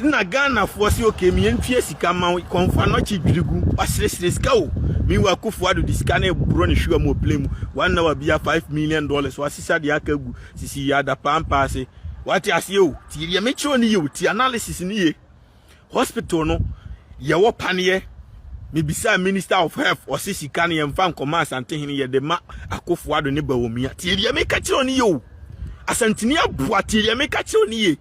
Nna Ghanafoɔ se ok me yɛntua sika mma wo, kɔmfaa nɔkye dwiri gu, waseresere sika o, meanwhile Kuffo Addo de sika no reboro ne hwewa mu wɔ plane mu, one hour biara five million dollars, wasesa deɛ aka agu, sisi yɛ adapaa mpaa ase. Wate aseɛ o, tie deɛ mekyerɛ wo no yie o, tie analysis no yie, hospital no yɛwɔ paneɛ, mebisaa minister of health, ɔse sika no yɛmfa nkɔma Asantehene, yɛde ma Akuffo Addo ne Bawumia, tie deɛ meka kyerɛ wo no yie o, Asanteni aboa, tie deɛ meka kyerɛ wo no yie.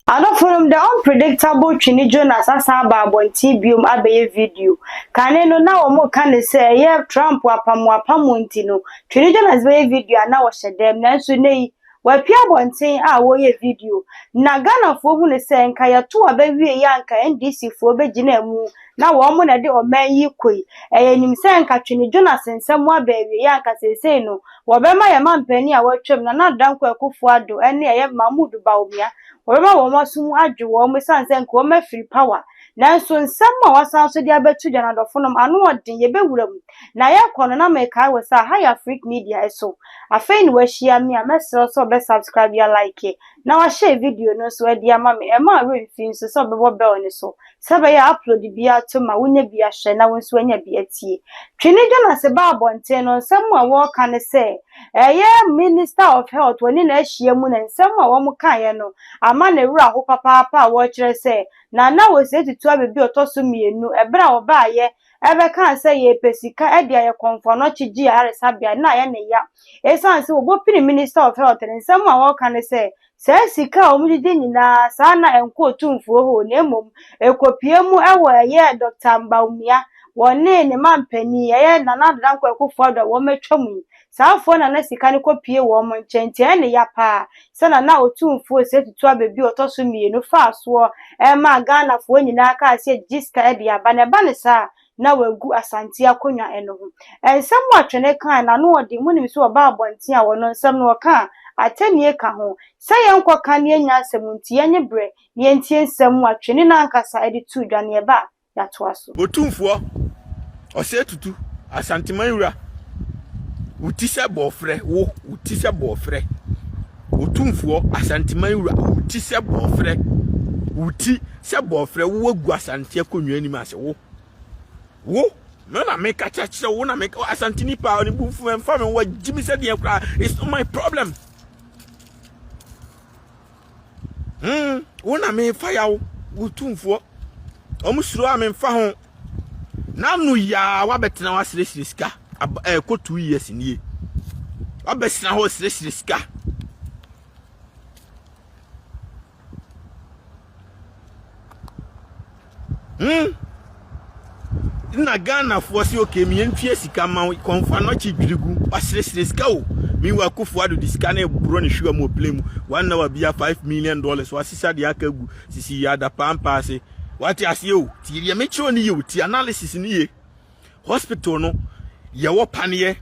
Adɔfonom, The Unpredictable twe ne Jonas asan aba abɔnten biom abɛyɛ video. Kane no, na wɔreka no sɛ ɛyɛ Trump apam wɔapam wɔn nti no, twe ne Jonas bɛyɛ video a na wɔhyɛ dɛm, nanso nnɛyi W'api abɔnten a wɔyɛ video na Ghanafoɔ hu no sɛ nka yɛto aba wie yɛ a nka NDC foɔ bɛ gyina mu na wɔn mo na ɛde ɔman yi koi ɛyɛ nim sɛ nka Twene Jonas nsɛm mo aba awie yɛ a nka seesei no wɔbɛma yɛ mampanin a watwam Nana Danko Akufo Addo ɛne ɛyɛ Mahmood Bawumia wɔbɛma wɔn aso mu adwo wɔn mo ɛsan sɛ nka wɔn afiri power nanso nsɛm mo a wasan so de abɛto dwa no adɔfonom ano ɔden yɛbɛwura mu Na yɛkɔ no na mekae wɔ sɛ aha yɛ Afrik media ɛso afei na wahyia me a mɛsrɛ wo sɛ ɔbɛ subscribe yɛ like na wahyɛ video no nso ɛde ama me ɛmma awerɛ mfi nso sɛ ɔbɛbɔ bell no so sɛ ɛbɛyɛ a upload biara atom ma wonya bi ahwɛ na wo nso anya bi atie Twene Jonase baa abɔnten no nsɛm a wɔka ne sɛ ɛyɛ minister of health wɔne no ahyia mu na nsɛm a wɔn kaeɛ no ama ne werɛ aho papaapa a wɔkyerɛ sɛ Nana Osei Tutu Abebe ɔtɔ so mmienu ɛberɛ a ɔbaeɛ bɛkaa sɛ yɛpɛ sika de ayɛ kɔmfoano kyegye ayaresabea no na ayɛ no ya esiane sɛ wɔbɔpini Minister of Health no nsɛm a wɔka ne sɛ saa sika a wɔgyegye nyinaa saa na ɛnkɔ otumfuo hoo na mmom ɛkɔpue mu wɔ ɛyɛ Dɔkta Bawumia wɔne ne manpanin ɛyɛ Nana Ado Dankwa Akufo-Addo a wɔatwa mu yi Saa afoa na na sika no kɔ pue wɔn nkyɛn, nti ɛyɛ no ya paa sɛ na na Otumfuo Osei Tutu Abe bi a ɔtɔ so mmienu faa soɔ maa Ghanafoɔ nyinaa kaa sɛ gyigye sika de aba, na ɛba no saa a, na wagu Asante akonnwa no ho. Nsɛm a Twene kaae no ano ɔden, monim sɛ ɔbaa abɔnten a ɔno nsɛm no ɔka a, atɛnnie ka ho. Sɛ yɛnkɔ ka na yɛnnya nsɛm nti, yɛnye berɛ na yɛntie nsɛm a Twene no ankasa de too dwa no, yɛba a, yɛatoa so. Otumfoɔ Ɔsɛe Tutu, Asanteman wura, wo ti sɛ bɔɔfrɛ, wo, wo ti sɛ bɔɔfrɛ. Otumfoɔ Asanteman wura, wo ti sɛ bɔɔfrɛ, wo ti sɛ bɔɔfrɛ, wo wagu Asante akonnwa anim ase, wo, wo, no na meka kyerɛkyerɛ wo na meka Asante nipa ne bu fun mfa me wagye me sɛ deɛ koraa it's not my problem. Hmm, wo na mefa yaw, wo tumfoɔ. Wɔn suro a memfa ho. N'ano yaa wabɛtena waseresere sika. Ɛkɔ eh, two years nie. Wabɛsena hɔ seresere sika. Hmm! Nna Ghanafoɔ se okay me yɛntua sika ma wo, kɔmfo anɔkye dwiri gu, waseresere sika o! Meanwhile Kuffo Addo de sika no reboro ne hwewa mu wɔ plane mu, one hour biara five million dollars, wasesa deɛ aka agu sisi Yaada Pampaa ase. Wate aseɛ o! Tie deɛ mekyerɛ wo no yie o, tie analysis no yie. Hospital no yɛwɔ paneɛ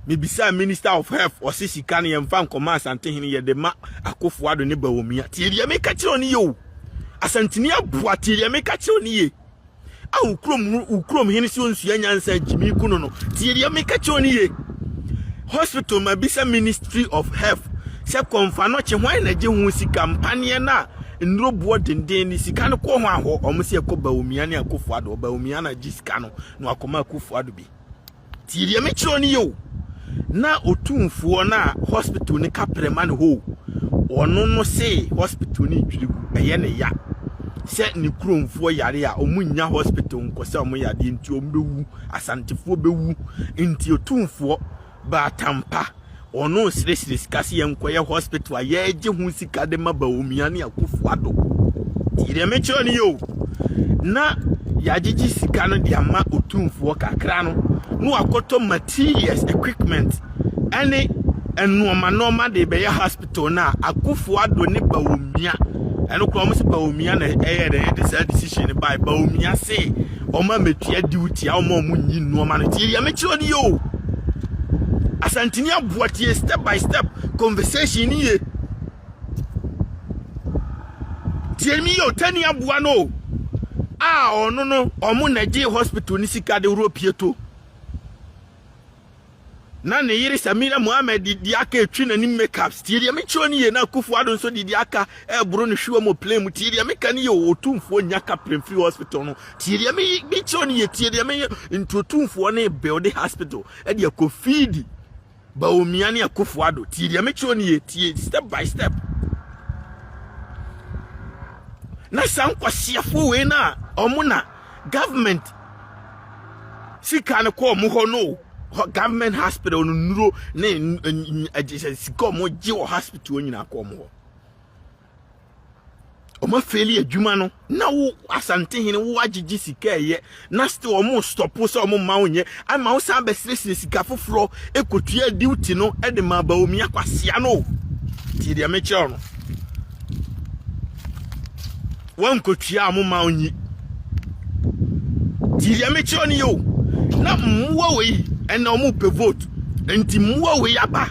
mebisaa minister of health ɔse sika no yɛmfa nkɔma asantehene yɛde ma akofo ado ne bawomia tie deɛ meka kyerɛ ne yɛ o asantini aboa tie deɛ meka kyerɛ ne yɛ a wokrom wokrom hene sɛ onsua nyansa gyimi kuno no tie deɛ meka kyerɛ ne yɛ Hospital ma bi sɛ Ministry of Health sɛ kɔ nfa no kye hwan na gye ho sika mpaneɛ na nnuro boɔ denden ne sika no kɔ hwan hɔ ɔmo sɛ kɔ Bawumia ne Akufo Addo Bawumia na gye sika no na wakɔ ma Akufo Addo bi tie deɛ me kyerɛ no yɛ o na otumfoɔ no a hospital no ka prɛ ma no hɔ o ɔno no se hospital no twiri gu ɛyɛ ne ya sɛ ne kuromfoɔ yare a ɔmo nnya hospital nkɔ sɛ ɔmo yadeɛ nti ɔmo bɛwu Asantefoɔ bɛwu nti otumfoɔ baa Tampa, ɔno resresre sika sɛ yɛnkɔyɛ hospital a yɛregye ho sika de ma Bawumia ne Akuffo Addo. Tie deɛ mekyerɛ no yɛ o, na yɛagyegye sika no de ama otumfoɔ kakra no na wakɔtɔ materials, equipment, ɛne nnoɔma nnoɔma de bɛyɛ hospital no a Akufo Addo ne Bawumia ɛno koraa wɔn sɛ Bawumia na ɛyɛ dɛ yɛde saa decision no bae Bawumia se wɔn a metua duty a wɔn a wɔn nyi nnoɔma no tie deɛ mekyerɛ no yɛ o Asantini aboa tie step by step conversation no yie tie mi yɛ o tani aboa no o a ɔno no wɔn na gye hospital no sika de wuro pieto. Na ne yere Samira Mohammed de di aka retwi n'anim makeups. Tie deɛ mekyerɛw no yie na Akufo Addo nso de di aka reboro ne hwewa mu wɔ plane mu. Tie deɛ meka no yie o, Otumfoɔ nya ka plane firi hospital no. Tie deɛ mekyerɛw no yie, tie deɛ meyɛ nti Otumfoɔ no rebuilde hospital de akɔ feed Bawumia ne Akufo Addo. Tie deɛ mekyerɛw no yie, tie step by step. Na saa nkwaseafoɔ wei na wɔn na. government sika no kɔ wɔn hɔ no government hospital no nnuro ne ɛgyesɛ sika wɔn gye wɔ hospital nyinaa kɔ wɔn hɔ wɔn afeeli adwuma no na wo asantehene wo agyegye sika ɛyɛ na still wɔn stɔpo sɛ wɔn mma wo nyɛ ama wo san bɛsirɛsirɛ sika foforɔ ekotua duty no ɛde ma baomi akwasia no tie deɛ mekyerɛw no. wɔnkɔtua a moma ɔnyi. Nti deɛ mekyerɛ no yɛ o na mmoa wei ɛna ɔmo pɛ vote nti mmoa wei aba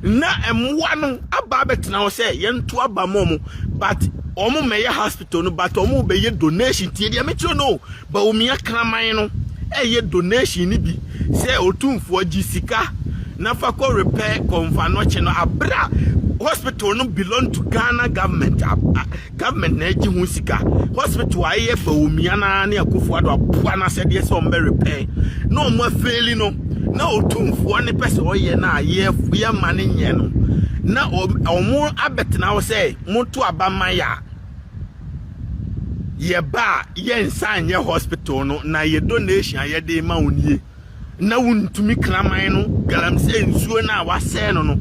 na mmoa no aba abɛtena hɔ sɛ yɛnto aba ma ɔmo but ɔmo mɛyɛ hospital no but ɔmo bɛyɛ donation tie deɛ mekyerɛ no o Bawumia kraman no ɛyɛ donation no bi sɛ otumfoɔ gye sika na fa kɔ repair kɔnfa nɔkye no abere a hospital no belong to Ghana government Government na egye ho sika. Hospital a ɛyɛ Bawumia na ne Akufo Addo aboa no asɛdeɛ sɛ wɔn bɛ repair na wɔn afeeli no na otumfoɔ ne pɛ sɛ ɔyɛ no a yɛ yɛ ma ne nyɛ no na wɔn abɛtena hɔ sɛ moto aba ma yɛ a yɛba a yɛnsa nyɛ hospital no na yɛ donation a yɛde ma wo nie. Ná wontumi kraman no galamsey nsuo no a wɔasɛe no no.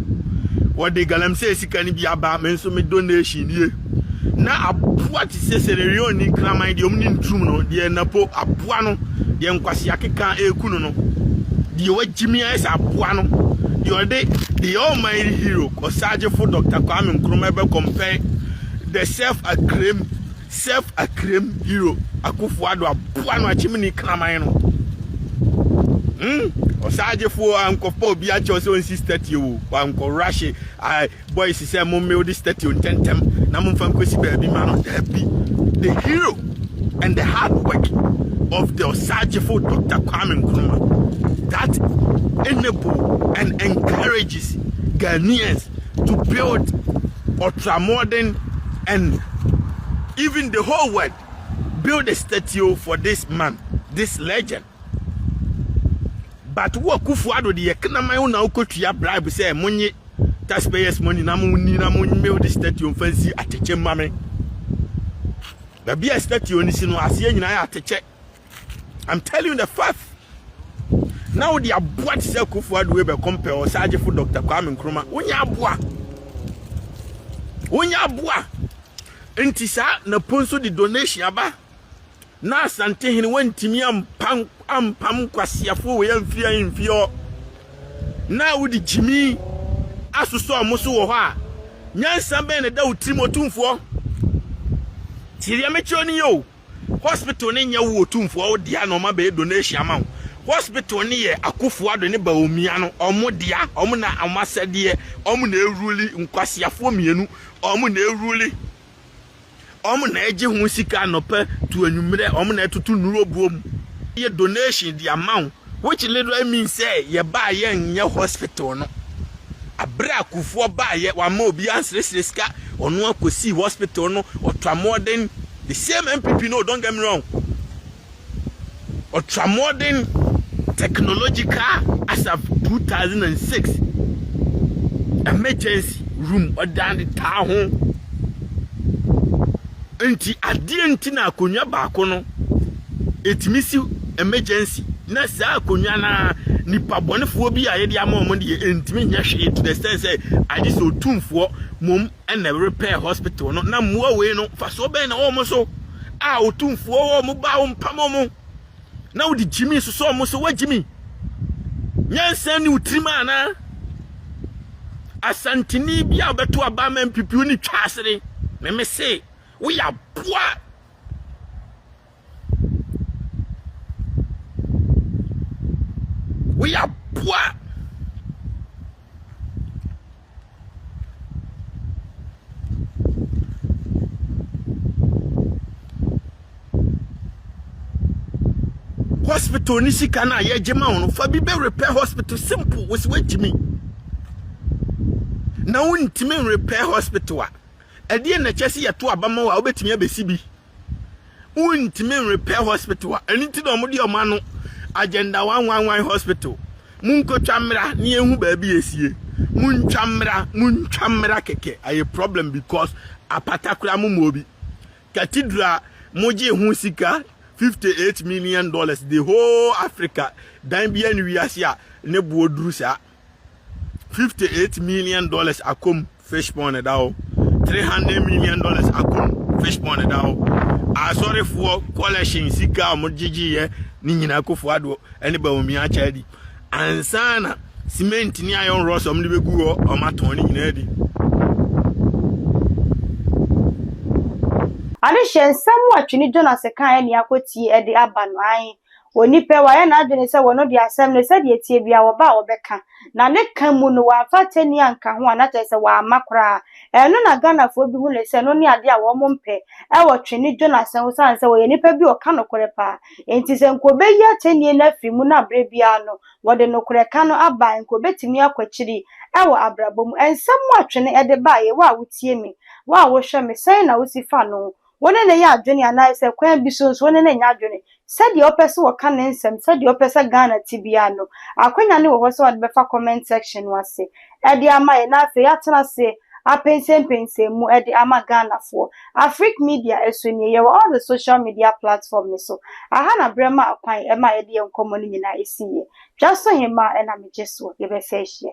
Wɔde galamsey sika no bi aba, me nso me donation nie. Ná aboa te sɛ Sierra Leone ni kraman deɛ wɔn ne nturum no, deɛ napo aboa no, deɛ nkwasea keka ɛreku no no, deɛ wagyimi ayɛ sɛ aboa no, deɛ ɔde the almighty hero, Ɔsaagyefo Dɔkta Kwame Nkrumah bɛkɔmpɛe, the self-acclaimed Sɛf Akerem Hero Akuffo Addo aboa no akyem ni kraman no hmm ɔsaagye foɔ ankɔfa obi akyɛw sɛ ɔnsi statio o wankɔ rush ai boys sɛ mo mmeo de statio ntɛntɛm na mo mfa nkɔsi baabi ma no daabi the hero and the hard work of the ɔsaagyefo Dr. Kwame Nkrumah that enable and encourages Ghanaians to build Ultramodern and even the whole world build a statue for this man, this legend. But wo Akufo Addo de yɛ knaman wo na wokɔtua bribe sɛ monye taxpayers money na monni na monmew de statue mfa nsi atɛkyɛ mma me. Baabi a statue no si no aseɛ nyinaa yɛ atɛkyɛ. I'm telling you the fact. Na wo de aboa te sɛ Akufo Addo ebe compare Osagyefo Dr. Kwame Nkrumah. Wonya aboa. Wonya aboa. Nti saa na ponso de donation aba. Na Asante hene wantimi ampam ampam kwasiafo we amfie amfie hɔ. Na wo de gyimi asosɔ ɔmo so wɔ hɔ a. Nyansa bɛn na da wo tirim otumfoɔ. Tiria me kyerɛ ni yo. Hospital no nyɛ wo otumfoɔ wo dea na ɔma bɛyɛ donation ama wo. Hospital no yɛ Akuffo Addo ne Bawumia no ɔmo dea, ɔmo na ɔmo asɛdeɛ, ɔmo na ɛruli, nkwaseafoɔ mmienu, ɔmo na ɛruli, ɔmo na ɛgye ho sika anɔpa to anwummerɛ, ɔmo na ɛtoto nnuro buo mu yɛ donation de ama wo. Which literally means sɛ yɛbaa yɛnyɛ hospital no. Aberɛ a Kufuor baeɛ, wamma obiara ansresre sika, ɔno ara kɔsii hospital no, ɔtra mmɔɔden, the same NPP no o, don't get me wrong, ɔtra mmɔɔden, technological as of 2006, emergency room ɔde ade taa ho, nti adeɛ nti na akonnwa baako no, ɛtumi si emergency na saa akonnwa no ara nipa bɔnefoɔ bi a yɛde ama wɔn deɛ ɛntumi nyɛ hwee to the extent sɛ agye sɛ otumfoɔ mom ɛna repɛɛ hospital no na mmoa wei no fasoɔ bɛn na wɔn so a otumfoɔ wɔ wɔn ba wɔn pam wɔn na wode gyimi sosɔ wɔn so wagyimi nyansa ni wotirim anaa asantini bi a ɔbɛto aba ma mpipiw ne twa asere meme se woyɛ aboa Wei aboa. hospital ne sika no a yɛgye ma wo no fa bi bɛ repair hospital simple wosi woatumi na wontumi repair hospital a Ɛdeɛn na ɛkyerɛ sɛ yɛto aba ma wo a wobɛtumi abɛsi bi? Wontumi nrepɛ hospital a ɛno nti na wɔde wɔn ano agenda one one one hospital. Monkɔtwa mmra na yɛnhu baabi a ɛsie. Montwa mmra, montwa mmra kɛkɛ. Ayɛ problem because apata koraa mommɔɔ bi. Cathedral mogyee ho sika fifty eight million dollars the whole Africa dan biara nni wiase a ne boɔ duru saa. fifty eight million dollars akɔ mu fish pond ɛda hɔ three hundred million dollars akɔ mu fish pond ɛda hɔ asɔrefoɔ collection sika a wɔgyegyeeɛ ne nyinaa akofo adoɔ ɛne bawumia akyɛ adi ansa na cement ne iron rods wɔn de bɛgu hɔ wɔn atɔn ne nyinaa adi. Adehyɛ nsɛm a Twene Jonas kaeɛ ne akɔtie de aba no ae Onipa yi, wayɛ n'adwene sɛ wɔno deɛ asɛm no, sɛdeɛ ɛteɛ biara, wɔba a wɔbɛka. Na ne ka mu no, wamfa atɛnni anka ho anaa kyerɛ sɛ wamma koraa. Ɛno na Ghanafoɔ bi hu no sɛ ɛno ne adeɛ a wɔn mpɛ wɔ twene Jonas ho sane sɛ ɔyɛ nipa bi a ɔka nokorɛ paa. Enti sɛ nka ɔbɛyi atɛnnie no afiri mu no a berɛ biara no wɔde nokorɛ ka no aba a, nka ɔbɛtumi akɔ akyiri wɔ abrabɔ mu. Nsɛm a twene de baeɛ, wo a wotie me, wo a wohwɛ me, sɛn na wosi fa no Wo ne no yɛ adwene anaasɛ kwan bi so nso wo ne no nyɛ adwene. Sɛdeɛ ɔpɛ sɛ ɔka ne nsɛm, sɛdeɛ ɔpɛ sɛ Ghana te biara no, akwanya no wɔ hɔ sɛ ɔde bɛfa comment section no ase de ama yɛn na afei yɛatena ase apɛnsɛmpɛnsɛn mu de ama Ghanafoɔ. Afrique Media nso nie, yɛwɔ all the social media platform no so. Aha na berɛ maa kwan maa yɛde yɛn nkɔmmɔ no nyinaa siiɛ. Dwasohemmaa na megye soɔ yɛbɛsan ahyia.